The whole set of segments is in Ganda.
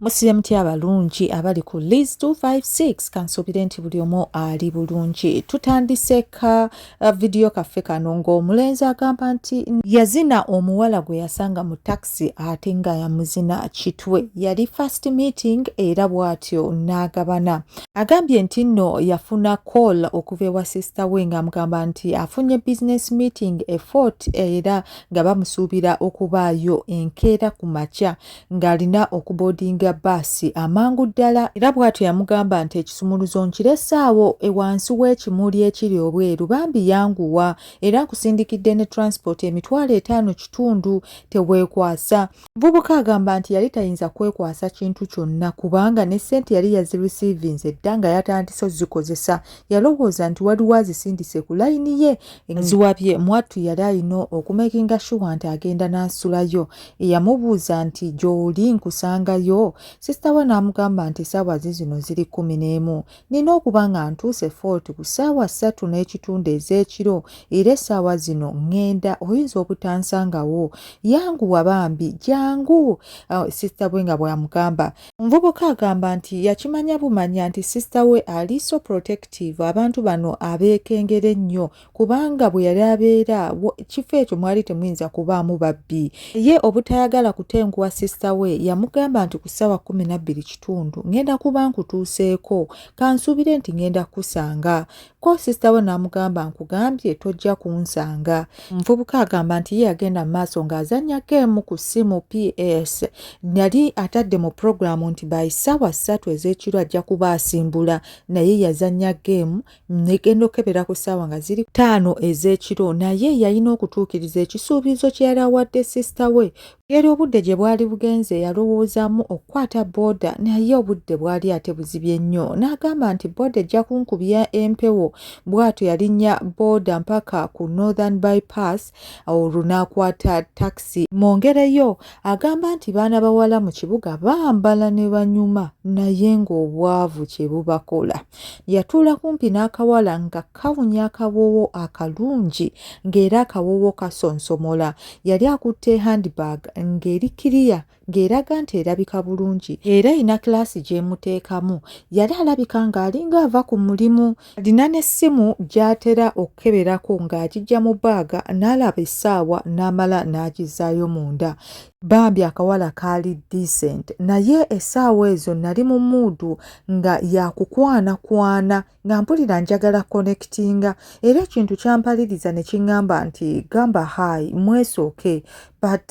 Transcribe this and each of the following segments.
musibe mutya abalungi abali ku leas 256 kansuubire nti buli omu ali bulungi tutandise ka uh, vidiyo kaffe kano ng'omulenzi agamba nti yazina omuwala gwe yasanga mu takisi ate nga yamuzina kitwe yali first meeting era bw'atyo n'agabana agambye nti nno yafuna call okuva ewa sisita we ng'amugamba nti afunye business meeting efort era nga bamusuubira okubaayo enkeera ku makya ng'alina okuboodinga bbaasi amangu ddala era bw'atyo yamugamba nti ekisumuluzo nkirese awo ewansi w'ekimuli ekiri obweru bambi yanguwa era nkusindikidde ne transipooti emitwalo etaano kitundu teweekwasa muvubuka agamba nti yali tayinza kwekwasa kintu kyonna kubanga ne ssente yali yazirisiivinze dda nga yatandise ozikozesa yalowooza nti waliwo azisindise ku layini ye eziwabye mwattu yali alina okumekinga shuwa nti agenda n'asulayo yamubuuza nti gy'oli nkusangayo sisita we n'amugamba nti essaawa ze zino ziri kkumi n'emu nina okuba nga ntuuse fort ku ssaawa ssatu n'ekitundu ez'ekiro era essaawa zino ŋŋenda oyinza obutansangawo yanguwa bambi jangu uh, sisita we nga bw'amugamba omuvubuka agamba nti yakimanya bumanya nti sisita we ali so protective abantu bano abeekengera ennyo kubanga bwe yali abeera ekifo ekyo mwali temuyinza kubaamu babbi ye obutayagala kutenguwa sisita we yamugamba nti ku ssaawa kumi nabbiri kitundu ngenda kuba nkutuuseeko kansuubire nti ngenda kukusanga ko sisita we n'amugamba nkugambye tojja kunsanga omuvubuka agamba nti ye yagenda mu maaso ng'azannya geemu ku ssimu ps yali atadde mu pulogulaamu nti by ssaawa ssatu ez'ekiro ajja kuba asimbula naye yazannya geemu negenda okukebera ku ssaawa nga ziri ttaano ez'ekiro naye yalina okutuukiriza ekisuubizo kye yali awadde sisita we era obudde gye bwali bugenze yalowoozaamu okukwata booda naye obudde bwali ate buzibye nnyo n'agamba nti booda ejja kunkubya empewo bw'atyo yalinnya booda mpaka ku northern bypass olwo n'akwata takisi mwongereyo agamba nti baana bawala mu kibuga bambala ne banyuma naye ng'obwavu kye bubakola yatuula kumpi n'akawala nga kawunya akawoowo akalungi ng'era akawoowo kasonsomola yali akutte handbag ng'eri kiriya ng'eraga nti erabika bulungi era erina kilaasi gy'emuteekamu yali alabika ng'alinga ava ku mulimu alina n'essimu gy'atera okukeberako ng'agijja mu baaga n'alaba essaawa n'amala n'agizzaayo munda bambi akawala kaali decent naye essaawa ezo nali mu muudu nga yakukwanakwana nga mpulira njagala connectinga era ekintu kyampaliriza ne kiŋŋamba nti gamba hai mwesooke but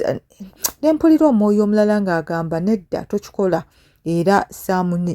ne mpulira omwoyo omulala ng'agamba nedda tokikola era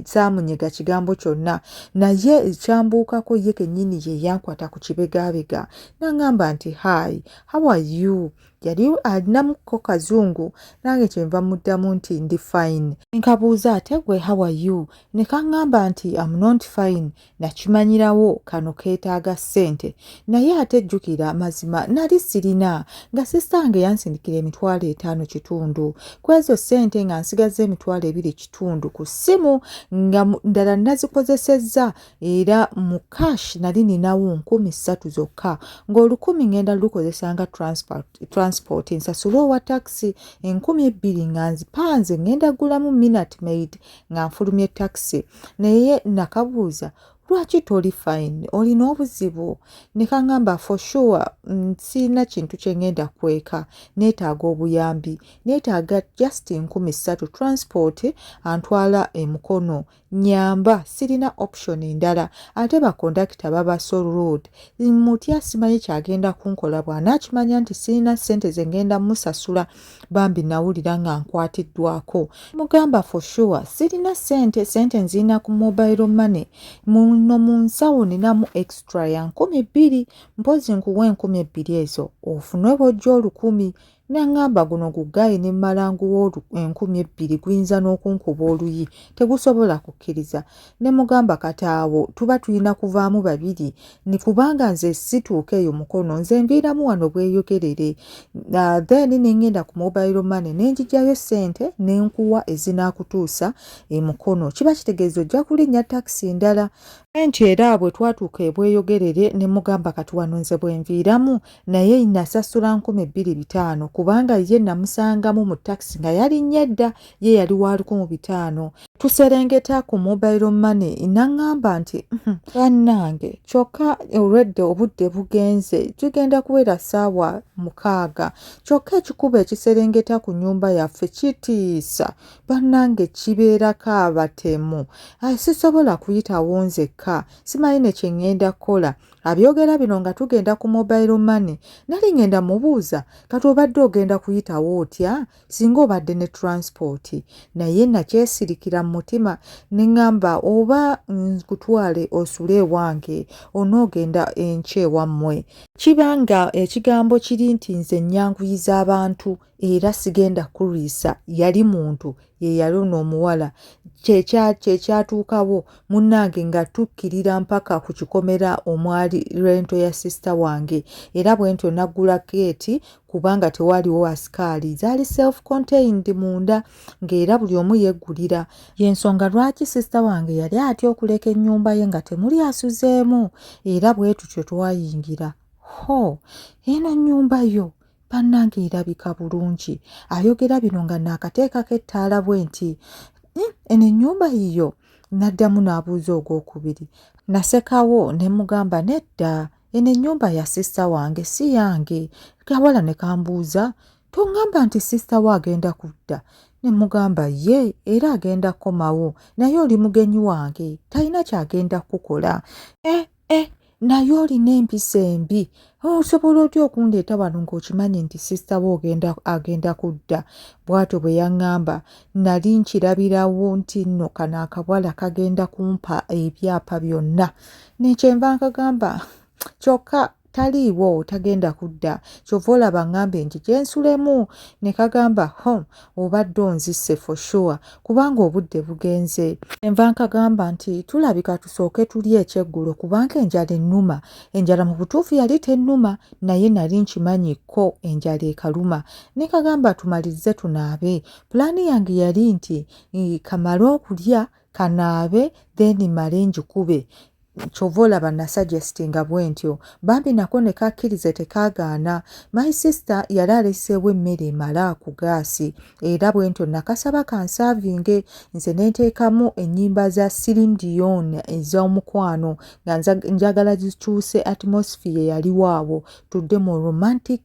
saamunyega kigambo kyonna naye ekyambuukako ye kennyini ye yankwata ku kibegaabega n'aŋamba nti hi how are you yali alinamuko kazungu nange kyenva muddamu nti ndi fine nkabuuza ate gwe how are you ne kaŋŋamba nti am not fine nakimanyirawo kano keetaaga ssente naye ate jjukira amazima nali sirina nga sisange yansindikira emitwalo etaano kitundu ku ezo ssente nga nsigazza emitwalo ebiri kitundu ku ssimu nga ndala nazikozesezza era mu cash nali ninawo nkumi ssatu zokka ng'olukumi ngenda lukozesa nga transport nsasule owa takisi enkumi ebbiri nga nzipanze ngenda ggulamu minat maid nga nfulumye takisi naye nakabuuza lwaki toli fine olina obuzibu nekangamba for sure mm, sirina kintu kyengenda kweka neetaaga obuyambi neetaaga just nkumi ssatu transport antwala emukono nyamba sirina option endala ate bakondakita baba so rude mutya simanyi kyagenda kunkola bwanaakimanya nti sirina ssente zengenda musasula bambi nawulira nga nkwatiddwako mugamba for sure sirina sente sente nziina ku mobile money muno mu nsawo ninamu extra ya nkumi bbiri mpozi nkuwa enkumi ebbiri ezo ofunwe bojja olukumi nangamba guno gugayi ne malanguwa enkumi ebbiri guyinza n'okunkuba oluyi tegusobola kukkiriza ne mugamba kati awo tuba tulina kuvaamu babiri ni kubanga nze situuka eyo mukono nze nviiramu wano bweyogerere uh, then nengenda ku mobile money nenjijayo sente nenkuwa ezinaakutuusa emukono kiba kitegeeza ojja kulinnya takisi ndala nti era bwe twatuuka ebweyogerere ne mugamba kati wano nze bwenviiramu naye nasasula nkumi bbiri bitaano kubanga ye namusangamu mu takisi nga yalinnya edda ye yali wa lukumu bitaano tuserengeta ku mobile money naŋŋamba nti uhm, bannange kyokka olwedde obudde bugenze tugenda kuwera ssaawa mukaaga kyokka ekikuba ekiserengeta ku nyumba yaffe kitiisa bannange kibeerako abatemu sisobola kuyitawo nzekka simanyi ne kye ŋŋenda kukola abyogera bino nga tugenda ku mobile money nali ngenda mubuuza kati obadde ogenda kuyitawo otya singa obadde ne transport naye nakyesirikira mu mutima neŋŋamba oba nkutwale osule ewange onoogenda enkya ewammwe kiba nga ekigambo kiri nti nze nnyanguyiza abantu era sigenda kulwisa yali muntu ye yali ono omuwala kyekyatuukawo munnange nga tukkirira mpaka ku kikomera omwali lwento ya sisita wange era bwentyo naggula keeti kubanga tewaaliwo asikaali zaali self contained munda ng'era buli omu yeggulira y'ensonga lwaki sisita wange yali atya okuleka ennyumba ye nga temuli asuzeemu era bwe tutyo twayingira ho eno nnyumba yo bannange erabika bulungi ayogera bino nga naakateekako ettaala bwe nti hmm, eno ennyumba yiyo n'addamu n'abuuza ogw'okubiri nasekawo ne mugamba nedda eno ennyumba ya sisita wange si yange kawala ne kambuuza tongamba nti sisita wo agenda kudda ne mugamba ye era agenda kukomawo naye oli mugenyi wange talina kyagenda kukukola eh, eh, naye olina empisa embi osobola otya okundeeta wano ng'okimanyi nti sisita we agenda kudda bw'atyo bwe yaŋŋamba nali nkirabirawo nti nno kano akawala kagenda kumpa ebyapa byonna nekyenva nkagamba kyokka taliiwo tagenda kudda kyova olaba ŋŋambe nti gyensulemu ne kagamba home obadde onzise for sure kubanga obudde bugenze enva nkagamba nti tulabika tusooke tuli ekyeggulo kubanga enjala ennuma enjala mu butuufu yali tennuma naye nali nkimanyi kko enjala ekaluma ne kagamba tumalirize tunaabe pulaani yange yali nti kamale okulya kanaabe then male njikube kyova olaba nasuggestinga bwentyo bambi nako nekakkirize tekaagaana my sister yali aleseewo emmere emala ku gaasi era bwentyo nakasaba kansaavinge nze nenteekamu ennyimba za sirin dion ez'omukwano nga njagala zikyuse atmosphere yaliwo awo tudde mu romantic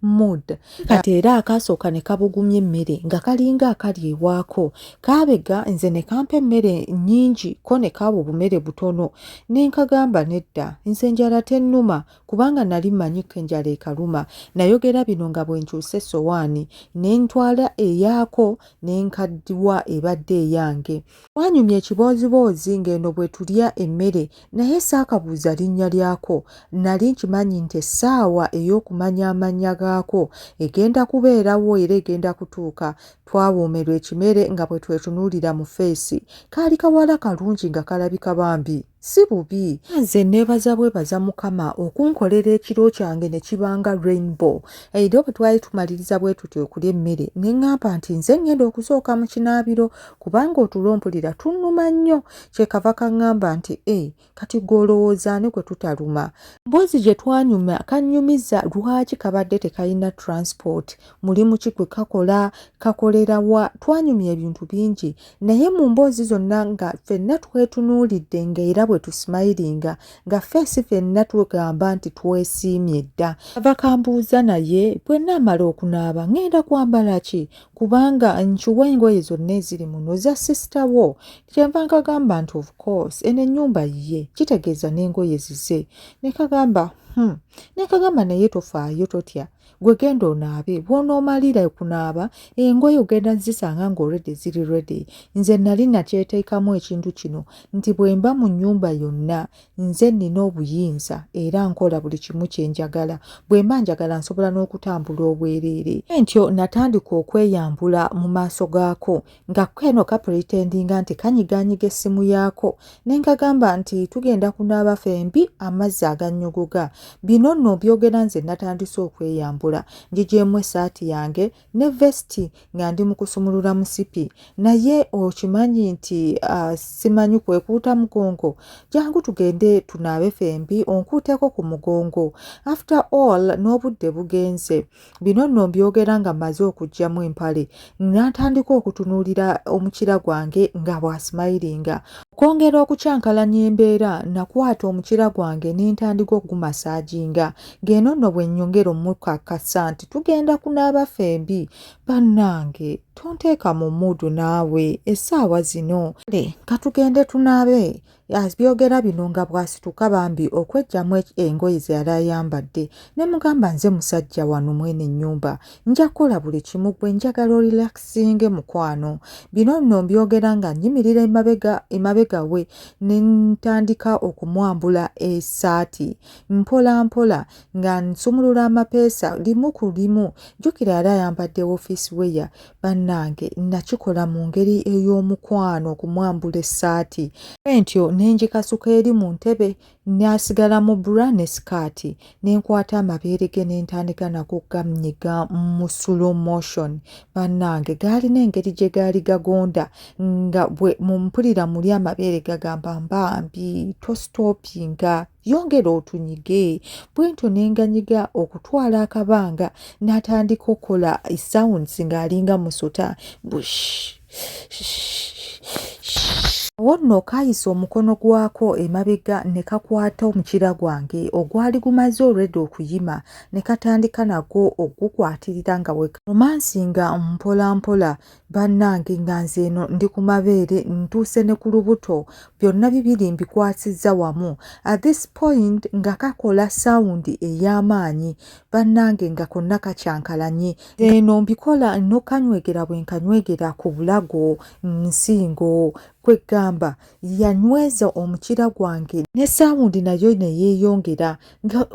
mood kati era akaasooka ne kabugumya emmere nga kalinga akali ewaako kaabega nze ne kampa emmere nnyingi ko ne kaaba obumere butono ne nkagamba nedda nze njala tennuma kubanga nali mmanyi ko enjala ekaluma nayogera bino nga bwe nkyusa essowaani ne ntwala eyaako ne nkaddiwa ebadde eyange Twanyumya ekibooziboozi ng'eno bwe tulya emmere naye saakabuuza linnya lyako. Nnali nkimanyi nti essaawa ey'okumanya amannya gaako egenda kubeerawo era egenda kutuuka. Twawoomerwa ekimere nga bwe twetunuulira mu ffeesi. Kaali kawala kalungi nga kalabika bambi. si bubi nze nebaza bwebaza mukama okunkolera ekiro kyange ne kibanga rainbow era bwe twali tumaliriza bwe tutyo okulya emmere ne ŋŋamba nti nze ŋŋenda okusooka mu kinaabiro kubanga otulo mpulira tunnuma nnyo kye kava kaŋŋamba nti e kati gw'olowooza ani gwe tutaluma mboozi gye twanyuma kannyumiza lwaki kabadde tekalina transport mulimu ki gwe kakola kakolera wa twanyumya ebintu bingi naye mu mboozi zonna nga fenna twetunuulidde nga era bwe tusimayiringa nga feesi fenna tugamba nti twesiimye dda ava kambuuza naye bwe naamala okunaaba ŋŋenda kwambala ki kubanga nkiwa engoye zonna eziri muno za sisita wo kyenva nkagamba nti of course eno ennyumba yiye kitegeeza n'engoye zize ne kagamba hmm. ne kagamba naye tofaayo totya gwe genda onaabe bwonoomalira okunaaba engoye ogenda zisanga ng'olredi ziri redi nze nali nakyeteekamu ekintu kino nti bwe mba mu nnyumba yonna nze nnina obuyinza era nkola buli kimu kye njagala bwe mba njagala nsobola n'okutambula obwereere entyo natandika okweyambula mu maaso gaako nga keno kapretendinga nti kanyiganyiga essimu yaako ne nkagamba nti tugenda kunaaba fembi amazzi agannyogoga bino nno byogera nze natandise okweyambula njigyemu essaati yange ne vesti nga ndi mu kusumulula musipi naye okimanyi nti uh, simanyi kwekuuta mugongo jangu tugende tunaabe fembi onkuuteko ku mugongo after all n'obudde bugenze bino nno mbyogera nga mmaze okugyamu empale natandika okutunuulira omukira gwange nga bwasimayiringa okwongera okukyankalanya embeera nakwata omukira gwange ne ntandika okugumasaaginga ng'eno nno bwe nnyongera omukakasa nti tugenda kunaaba fembi bannange tonteeka mu muudu naawe essaawa zino katugende tunaabe abyogera bino nga bw'asituka bambi okweggyamu engoye ze yali ayambadde ne mugamba nze musajja wano mwene ennyumba nja kukola buli kimu gwe njagala orilakisinge mukwano bino nno mbyogera nga nnyimirira emabega emabega we ne ntandika okumwambula esaati mpola mpola nga nsumulula amapeesa limu ku limu jjukira yali ayambadde wofiisi weya bannange nakikola mu ngeri ey'omukwano okumwambula essaati bwentyo ne ngikasuka eri mu ntebe nasigala mu bra ne sikaati ne nkwata amabeere ge ne ntandika nago gamnyiga mu slow motion bannange gaalina engeri gye gaali gagonda nga bwe mumpulira muli amabeere gagamba mbambi tostopinga yongera otunyige bwentyo nenganyiga okutwala akabanga natandika okola sounds ng'alinga musota bush wonno kayisa omukono gwako emabega ne kakwata omukira gwange ogwali gumaze olwedda okuyima ne katandika nagwo okugukwatirira nga weromansi nga mpola mpola bannange nga nze eno ndi ku mabeere ntuuse ne ku lubuto byonna bibiri mbikwasizza wamu at this point nga kakola sawundi ey'amaanyi bannange nga konna kakyankalanye eno mbikola n'okanywegera bwe nkanywegera ku bulago nsingo kweggamba yanyweza omukira gwange ne sawundi nayo ne yeeyongera nga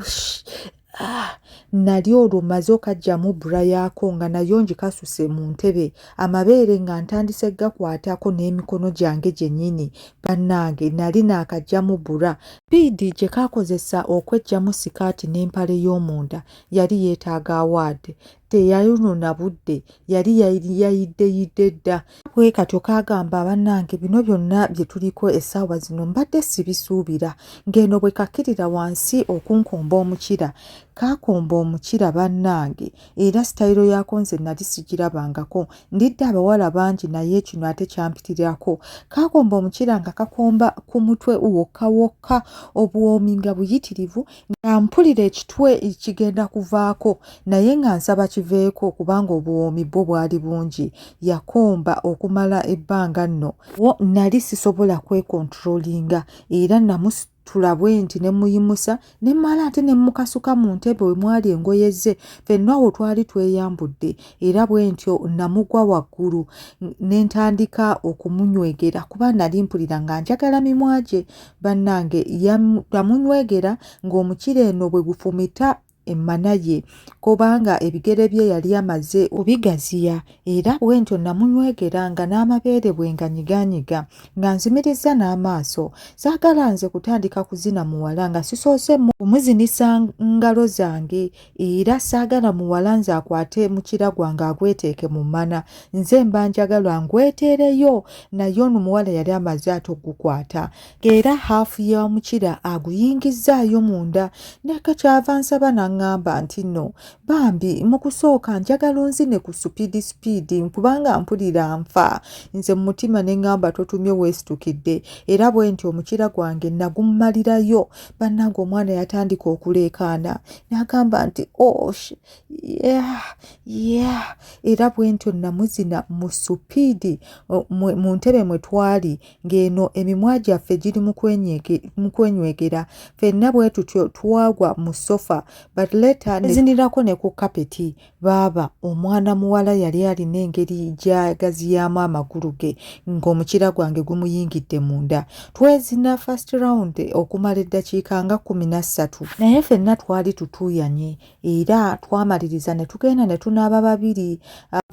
Ah, nali olwo maze okajjamu bra yaako nga nayo ngikasuse mu ntebe amabeere nga ntandise gakwatako n'emikono gyange gyennyini bannange nali naakajjamu bra piidi gye kaakozesa okweggyamu sikaati n'empale y'omunda yali yeetaaga awaadi teyayonona budde yali yayiddeyidde dda bwe katyo kagamba bannange bino byonna bye tuliko essaawa zino mbadde sibisuubira ng'eno bwe kakkirira wansi okunkomba omukira kaakomba omukira bannange era sitayiro yaako nze nali sigirabangako ndidde abawala bangi naye kino ate kyampitirako kaakomba omukira nga kakomba ku mutwe wokka wokka obuwoomi nga buyitirivu nga mpulira ekitwe kigenda kuvaako naye nga nsaba kiveeko kubanga obuwoomi bwo bwali bungi yakomba okumala ebbanga nno wo nali sisobola kwekontrolinga era namus tulabwe nti ne muyimusa ne mala ate ne mukasuka mu ntebe we mwali engoye ze fenna awo twali tweyambudde era bwe ntyo namugwa waggulu ne ntandika okumunywegera kuba nali mpulira nga njagala mimwa gye bannange yamunywegera ng'omukira eno bwe gufumita emmana ye kubanga ebigere bye yali amaze obigaziya era bwentyo namunywegera nga n'amabeere bwe nga nyiganyiga nga nzimirizza n'amaaso saagala nze kutandika kuzina muwala nga sisoose kumuzinisa ngalo zange era saagala muwala nze akwate mukira gwange agweteeke mu mana nze mba njagala ngweteereyo naye ono muwala yali amaze ate okugukwata era haafu ya mukira aguyingizzaayo munda neka kyava nsaba naŋŋamba nti no bambi mu kusooka njagala onzine ku supiidi supiidi kubanga mpulira nfa nze mu mutima ne ŋŋamba totumye weesitukidde era bwe nti omukira gwange nagumalirayo bannange omwana yatandika okuleekaana n'agamba nti osh oh, yeah, yeah. era bwentyo namuzina mu supiidi mu ntebe mwe twali ng'eno emimwa gyaffe giri mu kwenywegera fenna bwe tutyo twagwa mu sofa but leta nezinirako ne ku kapeti baaba omwana muwala yali alina engeri gyagaziyaamu amagulu ge ng'omukyira gwange gumuyingidde munda twezina first round okumala eddakiika nga kumi na ssatu naye fenna twali tutuuyanye era twamaliriza ne tugenda ne tunaaba babiri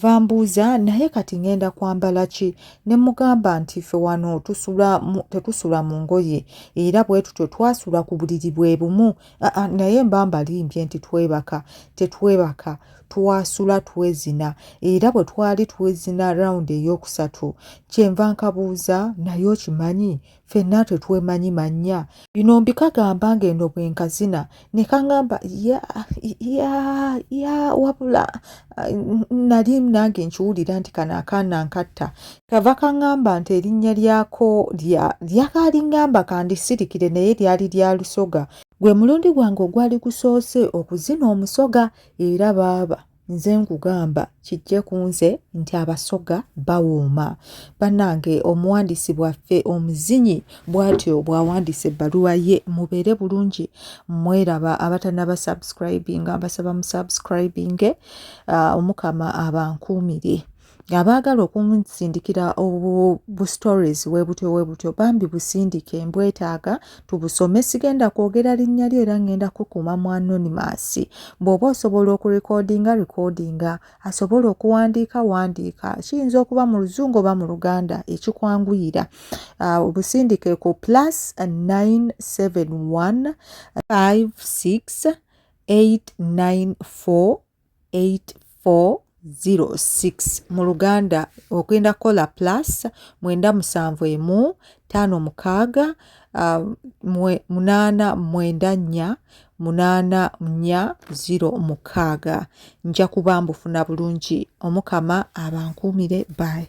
vambuuza naye kati ngenda kwambala ki ne mugamba nti ffe wano tetusula mu ngoye era bwe tutyo twasula ku buliri bwe bumu Aa, naye mba mbalimbye nti twebaka tetwebaka twasula twezina era bwe twali twezina rawundi ey'okusatu kyenva nkabuuza naye okimanyi fenna tetwemanyi mannya bino mbikagamba ng'eno bwe nkazina ne kaŋamba ya ya ya wabula nali nange nkiwulira nti kano akaana nkatta kava kaŋŋamba nti erinnya lyako lya lyakaali ŋŋamba kandisirikire naye lyali lya lusoga gwe mulundi gwange ogwali gusoose okuzina omusoga era baaba nze nkugamba kijje ku nze nti abasoga bawooma bannange omuwandiisi bwaffe omuzinyi bw'atyo bw'awandiisa ebbaluwa ye mubeere bulungi mweraba abatanaba subscribinga mbasaba mu subscribinge ah, omukama abankuumire abaagala okunsindikira bu stories webutyo webutyo bambi busindike mbwetaaga tubusome sigenda kwogera linnya lyo era ngenda kukuuma mu anonymous bw'oba osobola okurekodinga rekodinga asobola okuwandiika wandiika kiyinza okuba mu luzungu oba mu luganda ekikwanguyira ah, obusindike ku plus 971 56 894 8406 mu luganda ogenda kukola plus mwenda musanvu emu ttaano mukaaga ah, munaana mwenda nnya munaana nnya ziro mukaaga nja kuba mbufuna bulungi omukama abankuumire bye